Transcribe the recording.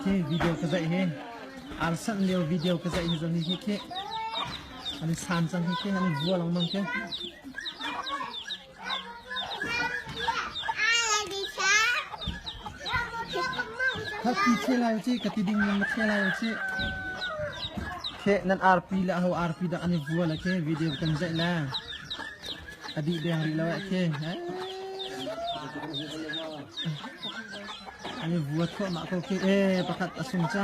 khi video ka zaih hi an san leo video ka zaih hi zong hi khi an san cang hi khi an vua lang mang khi Thakti the lai ci ka ti ding ning the lai ci. The nan arpi la ho arpi da ani vua la ke video kan zai la. Adi deng ri lo ke. Ani vua thua ma ko ke eh pakat asung cha.